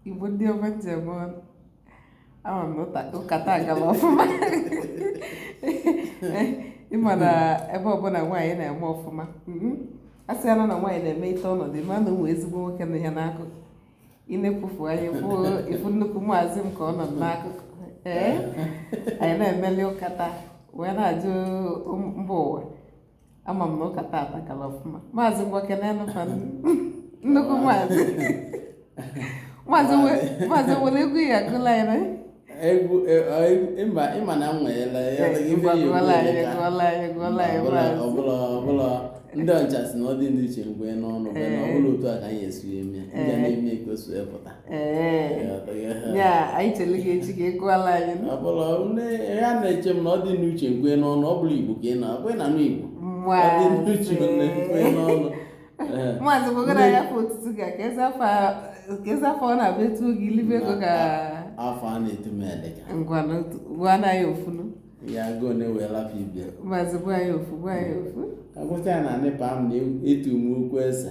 Igbo ndị ọma nji eme ọnụ ama m na ụka taa gaba ọfụma ịma na ebe ọbụla nwaanyị na-eme ọfụma mm-hmm. a sị ya na nwaanyị na-emeite ọnọdụ ma na o nwee ezigbo nwoke nọ ya n'akụkụ ị nekwufu anya ị fụ nnukwu maazị m ka ọ nọ n'akụkụ ee anyị na-emeli ụka taa wee na-ajụ mba ụwa ama m na ụka taa atakala ọfụma maazị ngwa kenenụ fa nnukwu maazị maazị nwere egwu ya agụla ya na egwu e, ịma na m nweela ya ọbụla ndị ọcha sị na ọ dị n'uche nkwe n'ọnụ ọbụla otu a ka anyị esi eme ya ndị na-eme ka o pụta anyị chere gị eche ka ị gụọlụ anyị ọbụla ya na-eche m na ọ dị n'uche nkwe n'ọnụ ọ bụla igbo ka ị na-abụ ị na-anụ igbo ọ dị n'uche nkwe n'ọnụ maazị bụgara ya afa otutu ga ka eze afa ọ na-abụ etuo gị i libe ego ka afa a na-etu m elika ngwanụ gwa na ya ofunu ya agụ na ewee lapụ ibe ya maazị gwa ya ofu gwa ya ofu agwụcha ya na ndị mpa m na-etu m okwu eze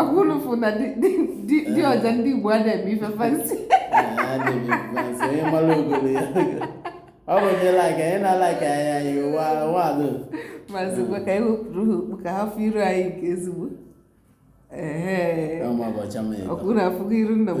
ọgwụlụfụ na di ọja ndị Igbo a na-eme ife fansi ọ bụ ndị laik anyị na-alaik anya anyị ụwa wadụ maazị ngwa ka anyị wepụrụ ha okpu ka ha fụ iru anyị nke ezigbo ọkpụrụ afụgo iru nna m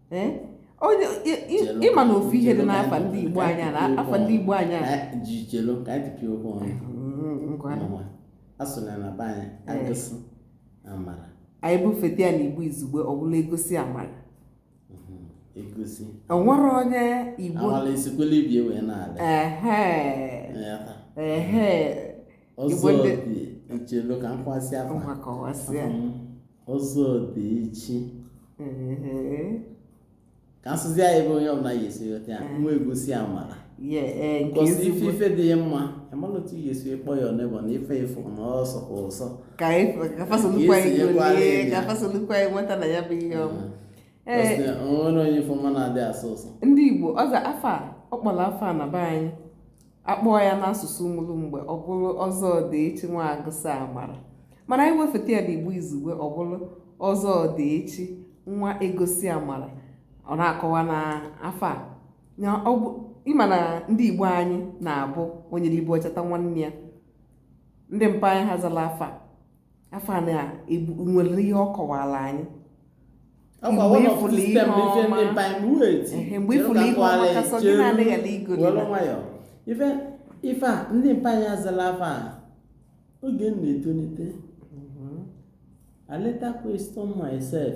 ịma na ofu ihe dị n'afa ndị Igbo anyị na afa ndị Igbo anyị chelu ka anyị pịa okwu ọnụ mm, a sị na na be anyị agosi amara anyị bufeta ya na Igbo izugbe ọ bụlụ egosi amara egosi onwere onye igbo amala esikwela ibe ya wee na-ala ehe ehe ọzọ dị e chelu ka m kọwasị afa ọzọ dị echi ka a sụzie ya ebe onye ọbụla ya esi ghọta ya nwa egosi amara egosi ife ife dị mma amala otu ya esi kpọ ya ọnụ ọ bụ na ife ị fụ na ọ sọka ụsọ ka fa solukwa ya nweta na ya bụ ihe ọma onwere onye ife ọma na-adị asọ ụsọ ndị igbo aza afa kpọrọ afa na be anyị akpọọ ya n'asụsụ ụmụlụmgbe ọ bụrụ ọzọ ọdịechi nwa agosi amara mana anyị wefeta ya n'igbo izugbe ọ bụrụ ọzọ ọdịechi nwa egosi amara ọ na-akọwa na afa a na ọ bụ ịma na ndị igbo anyị na-abụ onye libe o cheta nwanne ya ndị mpa anyị ha zalụ afa a afa a na-enwere ihe ọ kọwara anyị mgbe ịfụla ihe ọma mgbe ịfụla ihe ọma kasọ gị na-adịghị ala igodi ife ife a ndị mpa anyị zara afa a oge m na-etolite mhm. I later question myself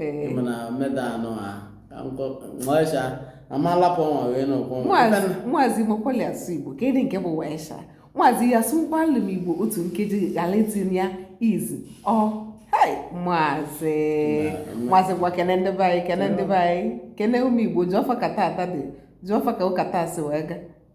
eh. mana meda anọ ha nwaisha amalapụ ọnwa wee n'ụkwụ maazị makwali asụ igbo kedụ nke bụ waisha maazị ya sụkwalụ m igbo otu nkeji ghara itinye ya izu ọ maazị maazị ngwa kene ndị be anyị kene ndị be anyị kene ụmụ igbo jụọ fa ka tata dị jụọ fa ka ụka taa si wee gaa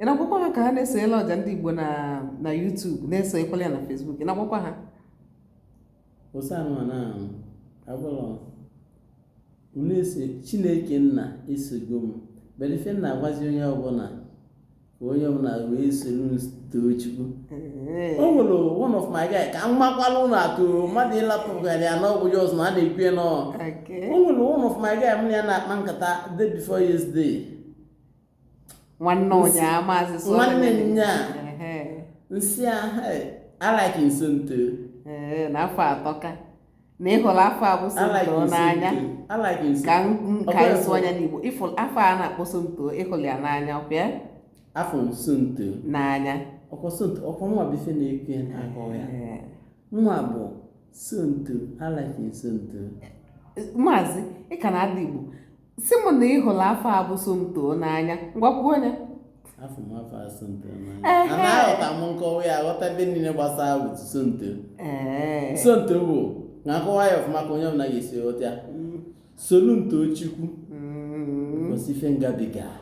ị na-agwakwa ha ka ha na-esonyela ọja ndị Igbo na na YouTube na-esonyekwala ya na Facebook ị na-agwakwa ha osanwa na agwụlọ chineke nna esogo m bere ife m na-agwazi onye ọbụla ka onye ọbụla wee soro too chukwu o nwere one of my guy ka m makwala ụlọ atụrụ mmadụ ịlapụgara ya n'ọgwụ ya ọzọ na a na-ekwu ya n'ọ o nwere one of my guy m na ya na-akpa nkata day before yesterday nwanne ụnyaa maazị so nwanne ụnyaa nsị ahụ I like somto na afa a tọka na ịhụrụ afa a bụ somto n'anya ka nka ịsụ anya n'igbo ịfụ afa a na-akpọ somto ịhụrụ ya n'anya ọbịa afụ m somto n'anya ọkwa somto ọkwa nwa bụ ife na-ekwe n'ahụ ya nwa bụ somto I like somto maazị ị ka na-ada igbo sị m na ị hụrụ afa a bụ Somto n'anya ngwa kwuo ya afụ m afa a Somto n'anya Ehe. ana aghọta m nkọwa ya aghọta ebe niile gbasara bụ Somto ee Somto bụ na-akọwa ya ọfụma ka onye ọbụla ga-esi ghọta ya Solu m too Chukwu Mm. because ife m gabiga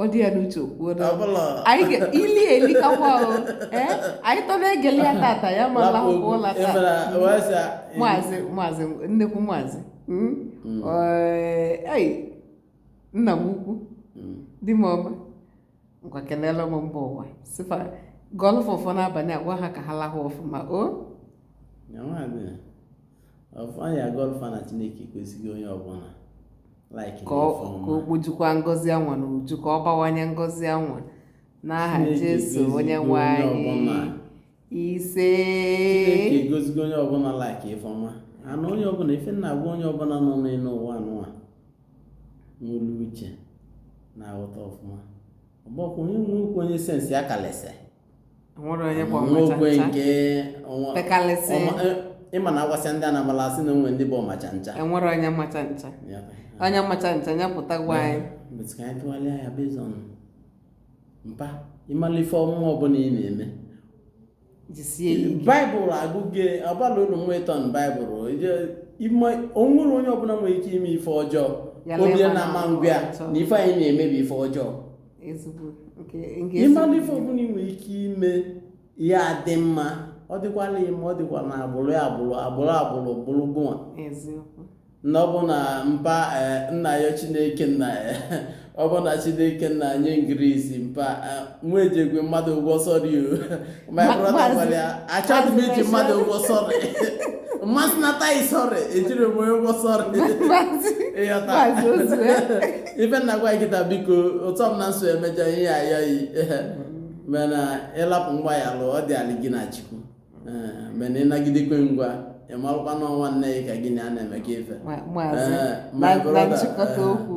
ọ dị ya n'uche okwuo anyị ili eli kakwa ahụ eh? anyị tọ na-egele ya tata ya ma lahụ ụla taa maazị maazị nnekwu maazị hmm? Hmm. Eh, nna m ukwu hmm. di m ọma ngwa kenele m mba ụwa sị fa gọlụ fa ọfọ n'abalị a gwa ha ka ha lahụ ọfụma o ọfọ ya gọlụ fa na chineke kwesịghị onye ọbụla ka o kpojukwa ngọzi anwa n'uju ka ọ bawanye ngọzi anwa n'aha Jesu onye nwe anyị ise Chineke agọzigo onye ọbụla like ifeọma ana onye ọbụla ife m na-agwa onye ọbụla nọ n'elu ụwa anwa nwelu uche na-aghọta ọfụma ọ bụkwa onye nwe okwu onye sense ya kalịsị nwekwe nke eh, ịma na agwasịa ndị anambala asị na onwe ndị bụ ọmacha ncha enwere onye macha ncha onye macha ncha ya pụta gwa anyị ka anyị tụgharịa ya based on mpa ịmala ife ọmụma ọbụna ị na-eme baịbụl agụgị ọbala ụlọ nwa ịtọ na baịbụl onwere onye ọbụna nwe ike ime ife ọjọọ obi na-ama ngwa na ife anyị na-eme bụ ife ọjọọ ezigbo nke nke ịmara ife ọbụna ị nwere ike ime ya adị mma ọ dịkwala yị mma ọ dịkwa na agbụrụ ya agbụrụ agbụrụ agbụrụ bụrụ gụnwa eziokwu na ọ bụ na mpa eh, na-ayọ chineke nna ya ọ bụ na chineke nna nye m grace mpa eh, na ejikwe mmadụ ụgwọ sorry o. my brother gwara ya achọghị m iji mmadụ ụgwọ sorry mmasị nata yi sorry ejiri m onye ụgwọ sorry ịghọta ife m na-agwa kịta biko ụtọ m na nso emejọ ihe ya ayọ yi mana ịlapụ ngwa ya lụọ ọ dịalị gị na chukwu mana ịnagidekwe ngwa ị marụkwa na ọ nwanne gị ka gị na ya na-eme ka ife na nchịkọta okwu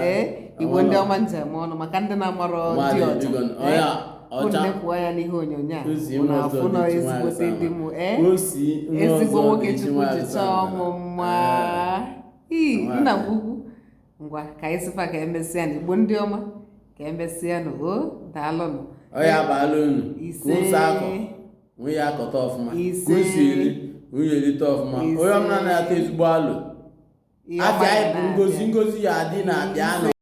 ee igbo ndị ọma njem ọnụ maka ndị na-amarọ di ọcha kwuo ya n'ihe onyonyo a na-afụnụ ezigbote di m ee ezigbo nwoke chukwu ji chọọ m mma ii nna m ukwu ngwa ka anyị sị fa ka emesịanụ igbo ndị ọma ka emesịanụ o daalụnụ ọ ya abalị unu ka ụzọ akọ nwunye ya akọta ọfụma Ise. orie erite ọfụma onye ọbụla na-ata ezigbo alụ Ihe afịa anyị bụ ngozi ngozi ya adị na-abịa anọ